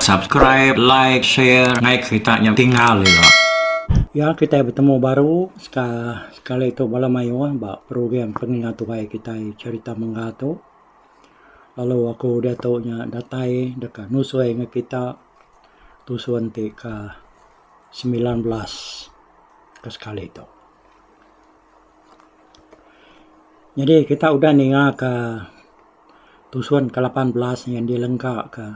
subscribe like share ngai kita nyam tinggal ya ya kita bertemu baru sekali itu malam ayo ah, ba program pengingat tuai kita cerita mengga tu Lalu aku diatu nya datai deka nusui ngan kita tusun ti ka semilan belas ka sekali tu. Nyadi kita udah ninga ka tusun ka lapan belas nya dilengka ka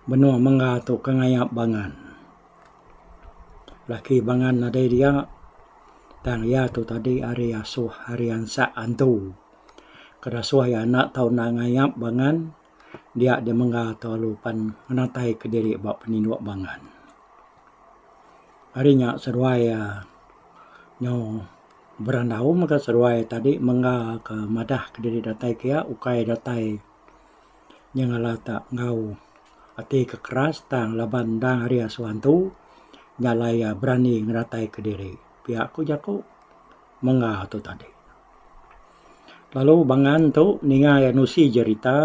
menua mengga tu ka ngayap bangan. Laki bangan nadai dia tang iya tu tadi hari asuh hari ansak antu. Kedasuh iya enda tau endang ngayap bangan dia deh mengga tu lalu pan ngenatai ke diri ba peninduk bangan. Ari nya seduai iya nyau berandau mega seduai iya tadi mengga ke madah ke diri datai ke iya ukai datai nya ngalah ta enggau ati ke keras tang laban endang ari asuh antu nya alai iya berani ngedatai ke diri. Pia ku jaku mengga tu tadi. Lalu bangan tu ninga iya nusi jerita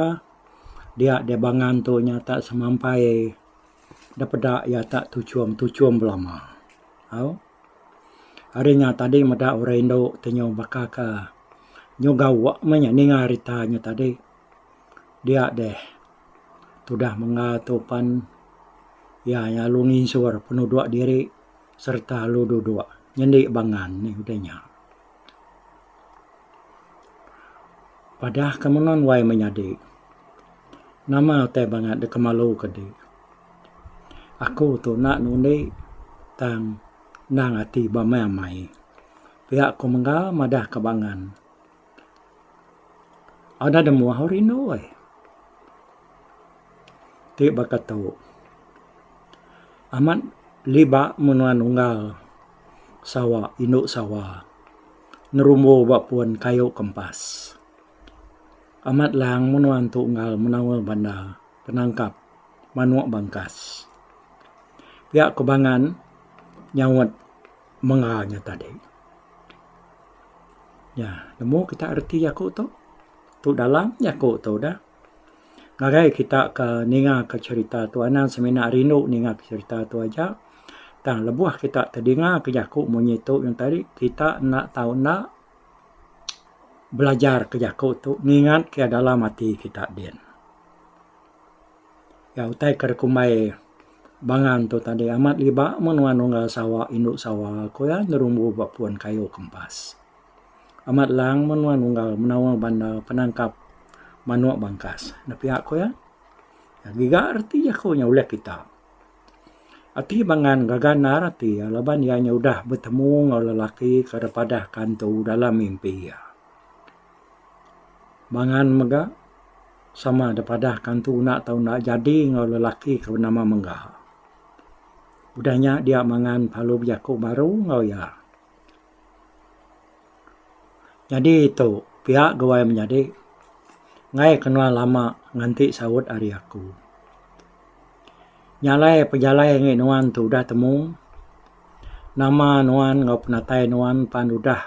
dia di bangan tu nyata semampai da peda iya ta tuchum tuchum belama au ari nya tadi meda orang indu ti nyau baka ka nyau gawa meh inya ninga rita nya tadi dia deh tudah mengga tu pan iya nya lalu nginsur penudok diri sereta lalu dudok nyendi bangan nih udah nya. Padah ke menun wai menyadi. Nama utai bangat deka malu ke di. Aku tu enda nundi tang endang ati ba meh amai. Pia ku mengga madah ke bangan. Au deh demu au rindu ai. Ti baka tu. Amat libak menua nunggal. Sawa, indu Sawa, ngerumbu ba pun kayu kempas. Amat lang menua entu enggau menaul banda penangkap manuk bangkas. Pia Kubangan nyaut mengga nya tadi. Nya, nemu kita reti aku tu? Tu dalam jaku tu dah. ngagai kita ke ninga ke cherita tu anang semina rindu ninga ke cherita tu aja tang lebuh kita ke dinga ke jaku munyi tu ngan tadi kita enda tau enda belajar ke jaku tu ngingat ke dalam ati kita din. Ga utai ke dikumbai bangan tu tadi amat ngiba mun wang nunggal Sawa indu Sawa ko iya ngerumbu ba puan kayu kempas. Amat lang menua nunggal menawa bandar penangkap manuk bangkas. Nepia ku iya, Ngiga reti jaku nya ulih kita. Ati Bangan ngaga endar ati iya laban iya nya udah betemu enggau lelaki ke ira padah kantu dalam mimpi iya. Bangan mega sama da padah kantu enda tau enda jadi enggau lelaki ke benama Mengga. Udah nya dia Mangan lalu bejaku baru enggau iya. Nyadi tu pia guai menyadi ngai kenoa lama nganti saut ari aku. Nyalai pejalai ngi nuan tu udah temu nama nuan enggau penatai nuan pan udah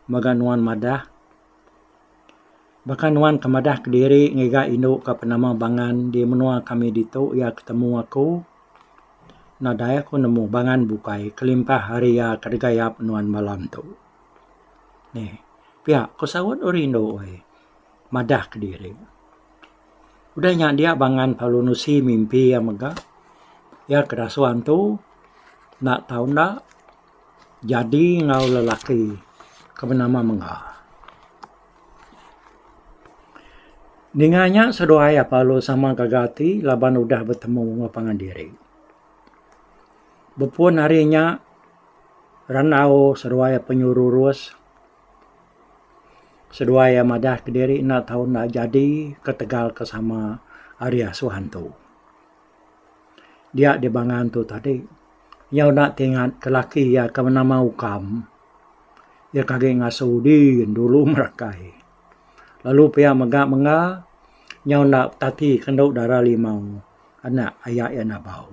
mega nuan madah. Baka nuan ke madah kediri ngiga indu ke penama Bangan di menua kami ditu iya ke temu aku nadai aku nemu Bangan bukai kelimpah ari iya ke deka yap nuan malam tu. Neh pia ku saut oh rindu ai madah kediri. Udah nya dia Bangan lalu nusi mimpi iya mega iya ke dasuh antu enda tau enda. Jadi enggau lelaki ke benama mengga. Ninga nya seduai apalu sama gaga ati laban udah betemu enggau pangan diri. Bepun hari nya randau seduai penyururus seduai iya madah kediri enda tau enda jadi ketegal ke sama ari asuh antu. Dia di Bangan tu tadi. Iya udah ti ingat ke laki iya ke nama Ukam. Iya ke agi ngasuh udi dulu merakai. Lalu pia mega mega iya enda betati kendu dara limau anak aya iya Nabau.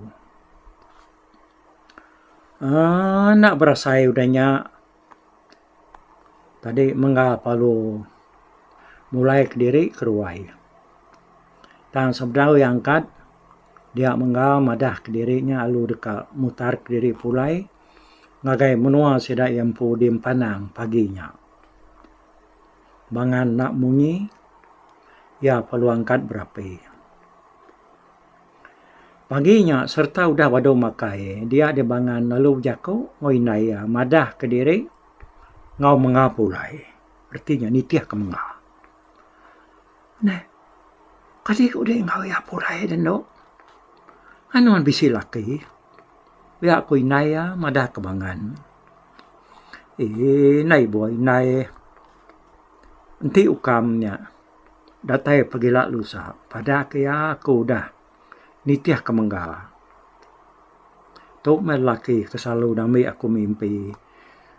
Aaa enda berasai udah nya. Tadi mengga palu mulai kediri keruai tang sebedau iya angkat dia mengga madah kediri nya lalu deka mutar kediri pulai ngagai menua sida iya empu diempanang pagi nya. Ba ngan enda munyi iya perlu angkat berapi. Pagi nya sereta udah badu makai, dia di bangan lalu bejaku enggau indai iya madah kediri enggau menga pulai. Reti nya nitih ke menga. Neh, kadi ku dek enggau iya pulai dek endo. Anang ne bisi laki. Pia ku indai iya madah ke bangan. Eii, indai buai indai enti ukam nya. Datai pegila lusa pada ke iya aku udah nitih ke mengga. Tu meh lelaki ke selalu ngambi aku mimpi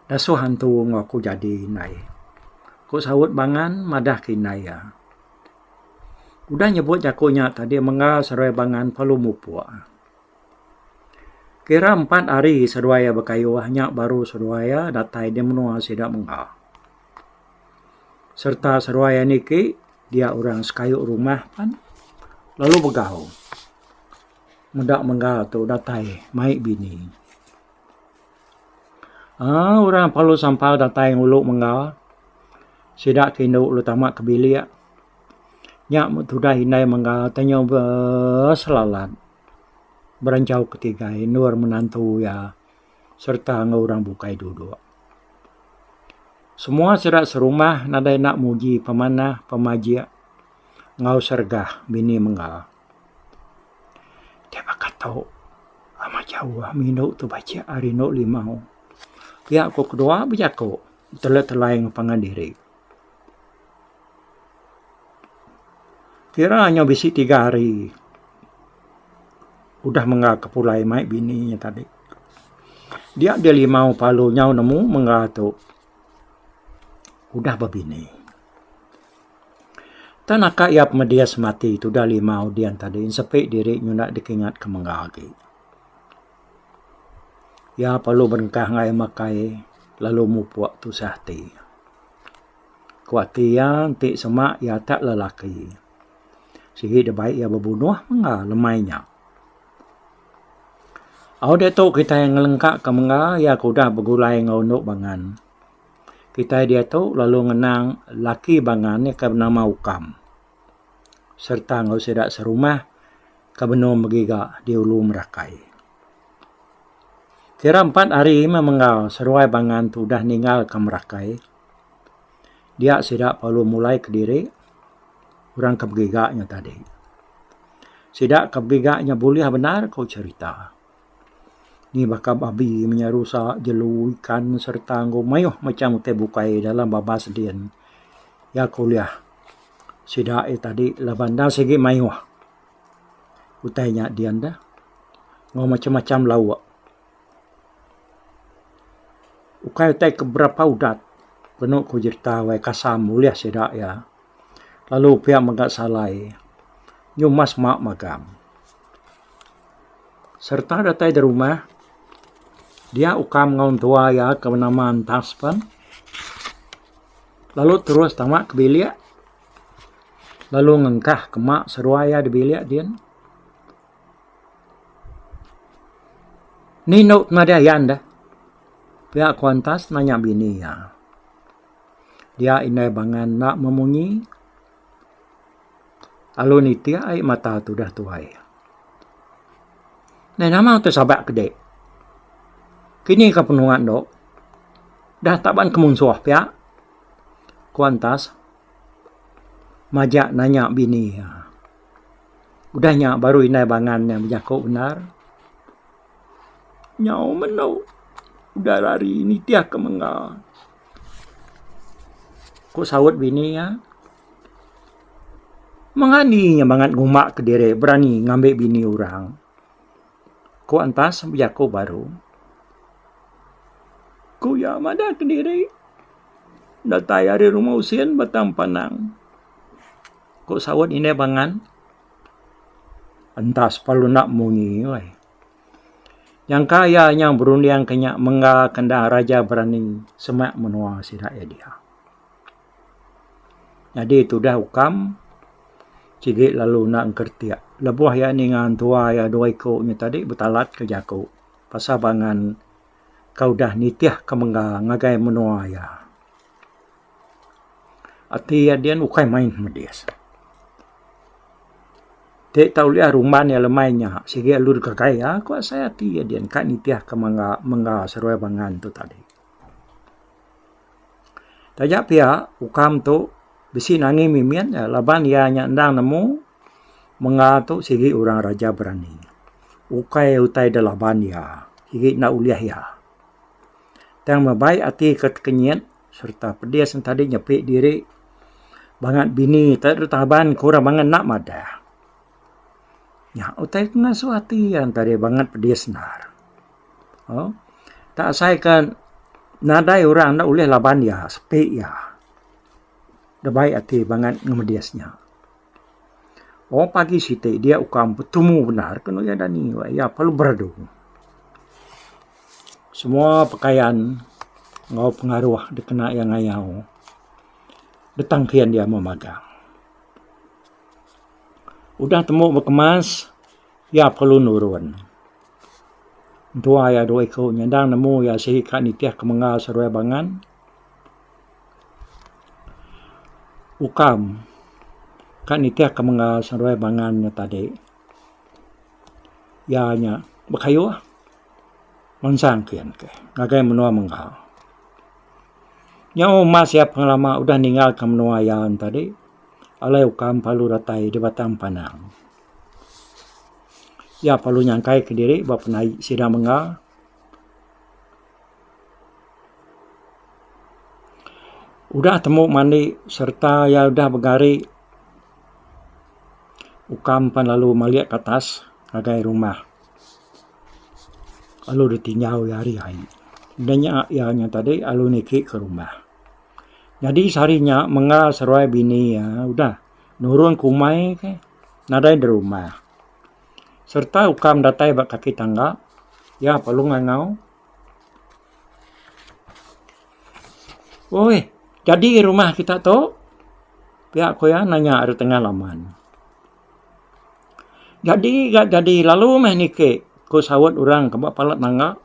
dasuh antu enggau aku jadi indai. Ku saut bangan madah ke indai iya. Udah nyebut jaku nya tadi mengga seduai bangan perlu mupok. Kira empat hari seduai iya bekayuh nya baru seduai iya datai di menua sida mengga. serta seruai anih ke dia orang sekayu rumah pan lalu begau meda mengga tu datai mai bini aaa orang pelalu sampau datai ngulu mengga sida ke indu lu tama ke bilik nya me tudah indai mengga te nyu be selalan berencau ke tiga endur menantu iya. sereta enggau orang bukai duduk. Semua sida serumah nadai enda muji pemanah, pemajik enggau sergah bini mengga. Ti baka tu amat jauh ami enu tu bacik ari enu limau. Pia ku kedua bejaku telai-telai ngempangan diri. Kira inya bisi tiga hari udah mengga ke pulai mai bini inya tadi. Dia dia limau palu nyau nemu mengga tu udah bebini. Tang naka iya pemedis semati tudah limau dian tadi sepi diri nyunda dikingat ke mengga agi. Iya perlu berengkah enggai makai lalu mupok tusah ati. Ku ati iya enti semak iya tak lelaki. Sigi da baik iya bebunuh mengga lemai nya. Au diatu kitai ngelengka ka mengga iya ke udah begulai enggau enu bangan. Kitai diatu lalu ngenang laki bangan iya ke nama Ukam. sereta enggau sida serumah ke benung begiga di Ulu Merakai. Kira empat hari meh mengga seduai bangan tu udah ninggalka Merakai, dia sida perlu mulai kediri orang ke begiga nya tadi. Sida ke begiga nya bulih bendar ku cherita. Ni baka babi menyau rusa, jelu, ikan sereta enggau mayuh macham utai bukai dalam babas din iya ke ulih sida iya tadi laban enda sigi mayuh utai nya din deh enggau macham-macham lauk. Ukai utai ke berapa udat penu ku jerita Wai Kasam ulih sida iya. lalu pia mega salai nyuma sema magang sereta datai da rumah dia ukam enggau entua iya ke benama Antas pen lalu terus tama ke bilik lalu ngengkah ke mak seruai iya da bilik din ni enda pemadah iya enda pia ku Antas nanya bini iya. Dia indai bangan enda memunyi. Lalu nitik ai mata tu udah tuai. Neh nama tu sabak ke dek. Kini ke penua endo dah tak ban kemunsuh pia. Ku Antas majak nanya bini iya. Udah nya baru indai bangan nya bejaku bendar. Nyau meno udah lari nitih ke mengga. Ku saut bini iya, Mengani nya bangat nguma kediri berani ngambi bini orang. Ku Antas bejaku baru. Ku iya madah kediri datai ari rumah usin batang panang. Ku saut indah bangat, Antas pa lu enda munyi. Nyangka iya nyau berunding ke nya mengga ke enda raja berani semak menua sida iya diau. Nyadi tudah ukam sigi lalu enda ngeretik lebuh iya ninga entua iya dua iku nya tadi betalat ke jaku pasal bangan ke udah nitih ke mengga ngagai menua iya. Ati iya dian ukai main medis. Ti tau liah rumban iya lemai nya sigi alur gagai iya ku asai ati iya dian ka nitih ka mengga mengga seruai bangan tu tadi. Taja pia ukam tu bisi nangin mimin iya laban iya nya endang nemu mengga tu sigi orang raja berani. Ukai utai da laban iya sigi enda ulih iya. Tang meh baik ati ka tekenyit sereta pedis entadi nyepi diri bangat bini te dulu taban ke orang bangat enda madah. Nya utai ke ngasuh ati iya entadi bangat pedis endar. Au tak asai ke nadai orang enda ulih laban iya sepi iya. Deba ati bangat ngemedis nya. Wang pagi siti dia ukang betumu bendar ke nuya dani wak iya perlu beradu. Semua pekayan enggau pengaruh dikena iya ngayau beteng kian dia meh magang. Udah tembu bekemas iya perlu nurun. Entua iya dua iku nyandang nemu iya silik ka nitih ke menggal seruai bangan. Ukam, ka nitih ka mengga seruai bangan nya tadi. Iya nya bekayuh mansang kian ke ngagai menua mengga. Nyau mas iya pengelama udah ninggal ke menua iya nya tadi alai ukam perlu datai di batang panang. Iya perlu nyangkai ke diri ba penaie sida mengga. Udah temu mandi sereta iya udah begari ukang pan lalu malik ke atas ngagai rumah lalu ditinjau iya hari hari udah nya iya nya tadi lalu niki ke rumah. Nyadi sehari nya mengga seruai bini iya udah nurun ke umai ke nadai di rumah sereta ukang datai ba kaki tangga iya perlu ngangau. Oi, jadi rumah kita tu pia ku iya nanya ari tengah laman. Jadi ga jadi lalu meh niki ku saut orang ke ba pala tangga.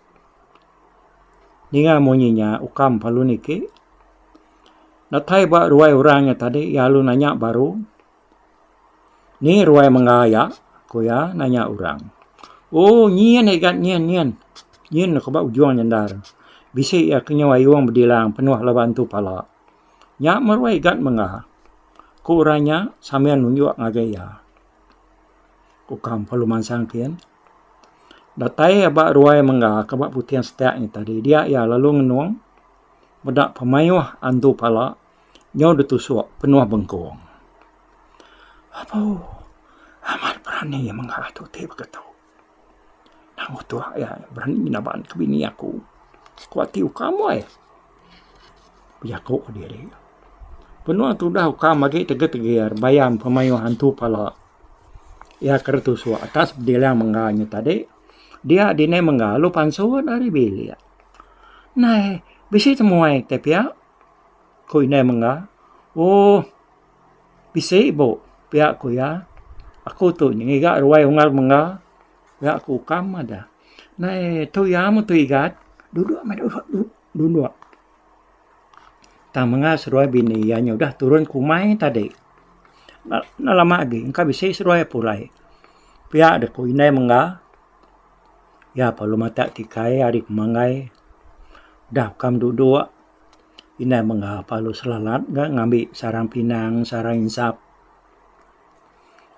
Ninga munyi nya ukam lalu niki. Datai ba ruai orang nya tadi iya lalu nanya baru. Ni ruai mengga iya? ku iya nanya orang. Oh, nyin agi gat nyin, nyin. Nyin deka ba ujung nyendar. Bisi iya ke nyau ayung bedilang penuh laban tu pala. Nya meh ruai gat mengga, ku orang nya sambil nunjuk ngagai iya. Ku Kam Pelu Mansang kin, datai iya ba ruai mengga ke ba Puting Setak nya tadi. Dia iya lalu ngenung meda pemayuh antu pala. nyau da tusok penuh bengkong. Abu, amat berani iya mengah atu ti baka tu. Tang utuh iya berani ngenaban ke bini aku ku ati ukam weh. Bejaku ke diri. Penuh tudah ukam agi tegir tegir bayam ke mayuh antu pala. Iya ke da tusok atas bedilang mengga inya tadi. Dia dini mengga lu pansut ari bilik. Nai bisi temuai te pia. Ku indai mengga. Ooh. Bisi ibu, pia ku iya. Aku tu ngiga ruai ungar mengga. Pia ku ukam madah. Nai tu iya meh tu igat. Duduk meh duduk duduk duduk. Tang mengga seruai bini iya nya udah turun ke umai tadi. Enda enda lama agi engka bisi seruai pulai. Pia deh ku indai mengga. Iya pa lu matak tikai ari pemanggai. Udah ukam duduk. Indai mega Paulus selalat ga ngambi sarang pinang, sarang insap.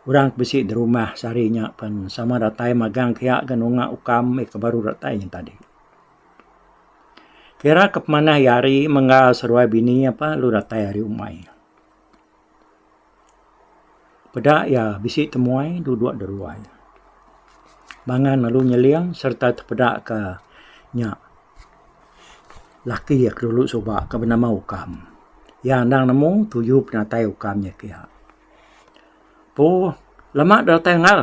Orang ke bisi di rumah sehari nya pen sama datai magang kia ke nunga ukam meh ke baru datai nya tadi. Kira ke pemanah iya hari mengga seruai bini apan lu datai hari umai. Peda iya bisi temuai dudok da ruai. Mangan lalu nyeling sereta tepeda ka nya laki iya ke dulu suba ke benama Ukam. Iya endang nemu tuju penatai Ukam nya kiya. Pu lama da datai engal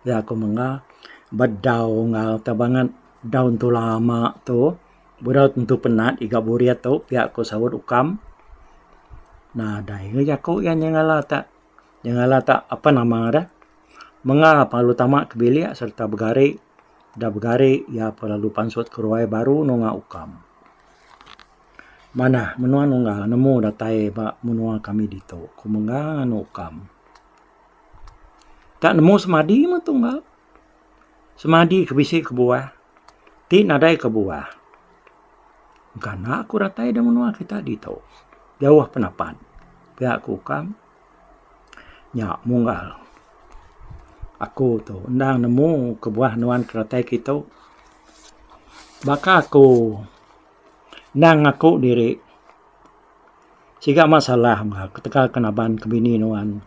iya ku mengga bedau engal te banget daun tula ama tu. Berau tentu penat iga burit tu pia ku saut ukam nadai ga jaku iya nyengala ta nyengala ta apan nama deh mengah lalu tama ke bilik sereta begari da begari iya pa lalu pansut ke ruai baru nunga ukam. Manah menua Nunggang nemu datai ba menua kami ditu ku mengga anu ukam. Ta nemu semadi meh tunggal. Semadi ke bisi kebuah ti nadai kebuah engkana ku ratai da menua kita ditu jauh penapat pia ku ukang nya munggal aku tu enda nemu kebuah nuan ke ratai ke tu baka ku enda ngaku diri. Siga masalah mega ketegal ke naban ke bini nuan.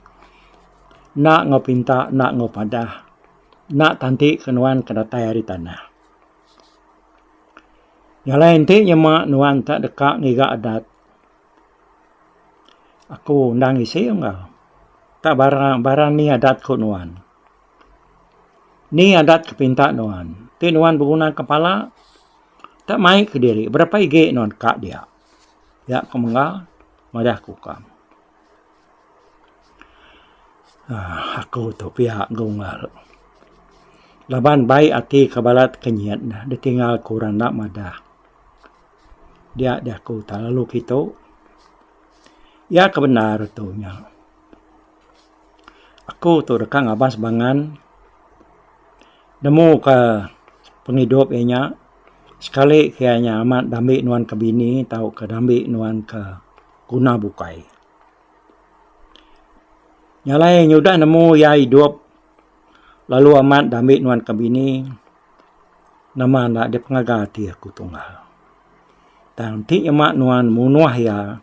Enda enggau pinta, enda enggau padah. Enda tanti ke nuan ke datai ari tanah. Jalai enti nyema nuan te deka ngiga adat. Aku endang isi mega. Ka barang, barang ni adat ku nuan. Ni adat ke pinta nuan. Ti nuan begunaka pala te mai kediri berapa igi nuan ka dia. Nya ke mengga madah aku ka. aaa aku tu pia ke unggal. Laban baik ati ka balat ke nyin neh ditinggal ku orang enda madah. Dia diaku ta lalu kitu. Iya ke bendar tu nya. Aku tu deka ngabas bangan. Nemu ka pengidup iya nya sekali ke iya nya amat dambi nuan ka bini tauka dambi nuan ka guna bukai. Nya alai nyudah nemu iya idup lalu amat dambi nuan ka bini nama enda dep ngaga ati aku tunggal. Tang ti nyema nuan munuh iya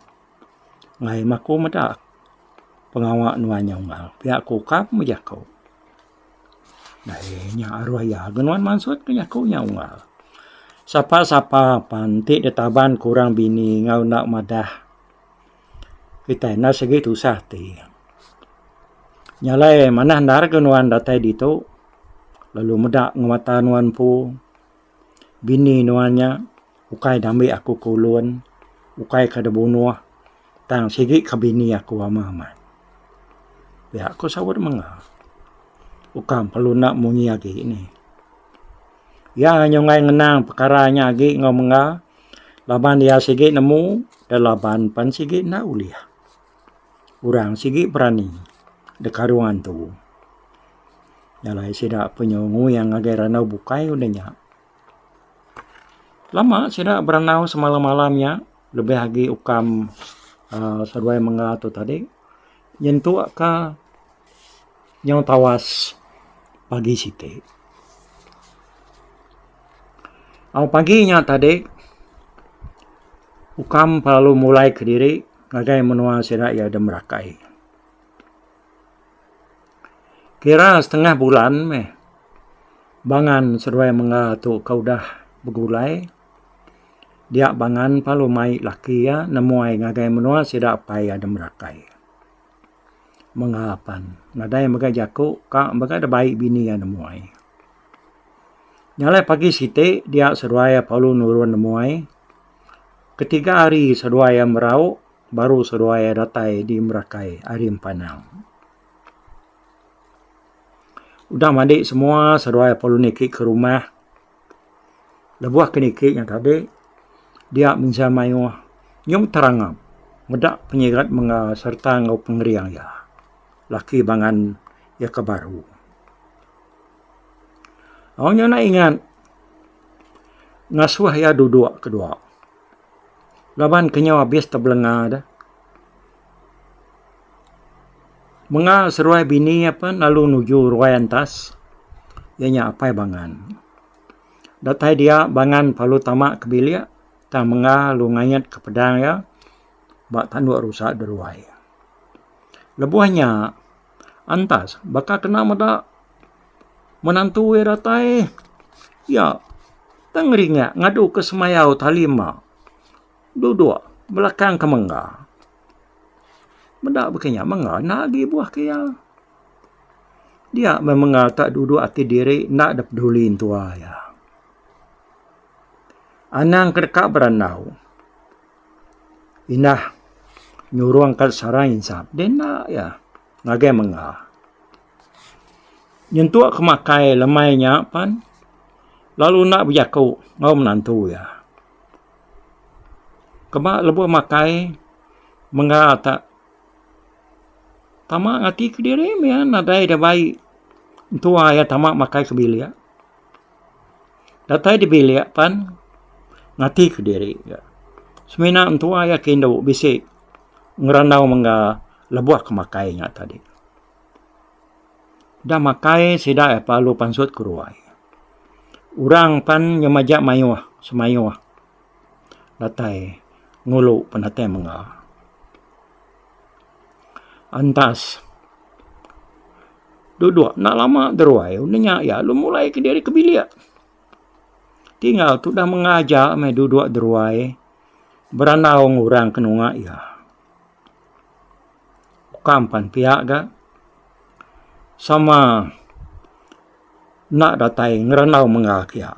ngaim aku meda pengawa nuan nya unggal pia ku ka pemejako. Ai nya aruh iya ke nuan mansut ke jaku nya unggal. Sapa sapa pan ti ditaban kurang bini enggau enda madah kitai enda sigi tusah ti. Nya alai manah endar ke nuan datai ditu lalu meda ngemata nuan empu. Bini nuan nya ukai ngambi aku ke ulun, ukai ke da bunoh tang sigi ke bini aku ama amat. Pia ku saut manga. Ukang perlu enda munyi agi nih. Iya nyunggai ngenang pekara nya agi enggau manga laban iya sigi nemu da laban pen sigi enda ulih. Orang sigi berani deka ruang antu. Jalai sida punya nguing ngagai randau bukai udah nya. Lama sida berandau semalam-malam nya lebih agi ukam aaa seduai mengga tu tadi nyentuk ka nyau tawas pagi siti. Au pagi nya tadi ukam selalu mulai kediri. Ngagai menua sida iya deh merakai. Kira setengah bulan meh bangan seduai mengga tu ke udah begulai dia bangan pa lu mai laki iya nemuai ngagai menua sida pai iya deh merakai. Mengga pan nadai mega jaku ka mega deh bai bini iya nemuai. Nya alai pagi siti dia seduai iya perlu nurun nemuai. Ketiga hari seduai iya merauk baru seduai iya datai di Merakai ari Empanau. Udah madi semua seduai pelu niki ke rumah lebuh ke niki nya tadi dia mensia mayuh nyung terangap meda penyigat mega sereta enggau pengering iya laki bangan iya ke baru. Au nya enda ingat ngasuh iya duduk ke dua. Laban ke nyau abis tebelenga de. Menga seruai bini iya pen lalu nuju ruai entas iya nya Apai Bangan. Datai dia Bangan perlu tama ke bilik tang menga lu ngait ke pedang iya ba tanduk rusa de ruai. Lebuh nya Antas, baka kena meda menantu iya datai, iya tang ngerinyak ngadu ke semayau tali emba dudok belakang ke mengga. Meda baka nya mengga enda agi buah ke iya. Dia meh mengga ka dudok ati diri enda dep peduli entua iya. Anang ke deka berandau Inah nyurung ka sarang insa deh enda iya ngagai mengga. Nyentuk ke makai lemai nya pan lalu enda bejaku enggau menantu iya. Keba lebuh makai mengga ta tama ngati kediri mih iya nadai ida baik entua iya tama makai ke bilik. Datai di bilik pan ngati ke diri ga semina mentua iya ke indu bisi ngerandau mengga lebuh ke makai nya tadi. Da makai sida iya pa alu pansut ke ruai. Orang pan nyama ja mayuh semayuh datai ngulu penatai mengga. Antas. Duduk enda lama deruai udah nya iya lalu mulai kediri ke bilik. Tinggal tudah mengaja meh duduk deruai berandau ngan orang ke nengah iya. Kam pan pia ga sama enda datai ngerandau mega ke iya.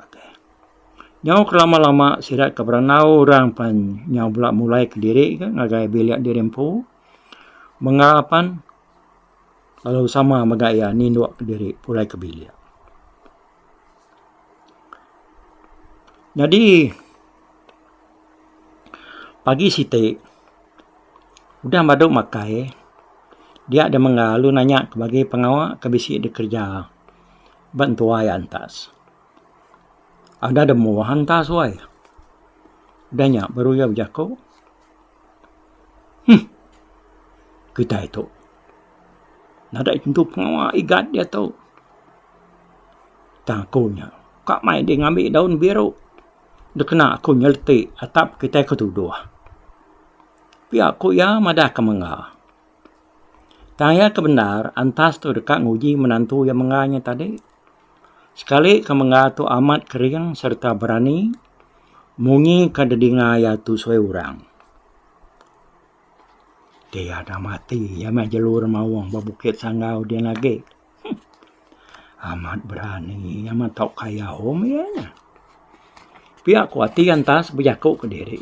Nyau kelama-lama sida ke berandau orang pan nyau bela mulai kediri ke ngagai bilik diri empu mengga pan lalu sama mega iya ninduk kediri pulai ke bilik. Nyadi pagi siti udah badu makai dia deh mengga lalu nanya ke bagi pengawa ke bisi dikereja ba tuai antas. Ada da moa hanta suai. Da nya baru iya bejaku, Huh. Kitai tu nadai tentu pengawa igat ia tu. Tang aku nya ka mai dih ngambi daun biru da kena aku nyeleti atap kitai ke tuduh. Pia ku iya madah ke mengga. Tang iya ke bendar antas tu deka nguji menantu iya mengga nya tadi. Sekali ke mengga tu amat kering sereta berani munyi ke didinga iya tusui orang. Ti iya dah mati iya meh jalur maong ba Bukit Sanggau dian agi. Amat berani iya meh tau kaya home iya nyeh. Pia ku ati iya entas bejaku ke diri.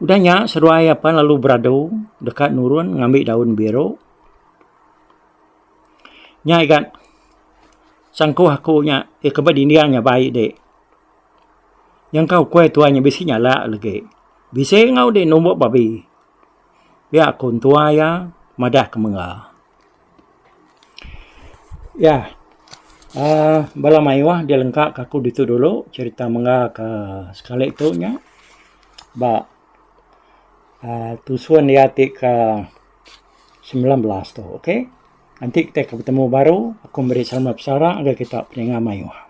Udah nya seduai iya pan lalu beradu deka nurun ngambi daun biru. Nya igat sangkuh aku nya ti ke ba dinding nya bai di. Nyangka ukoi tuai nya bisi nyala legi. Bisi enggau di numbuk babi. Pia ku entua iya madah ke mengga. Iya uhh bala mayuh dia lengka ka aku ditu dulu cherita mengga ka sekali tu nya ba uhh tusun iya ti ka semilan belas tu ok nanti kita akan betemu baru aku meri selamat besara ngagai kita peninga mayuh.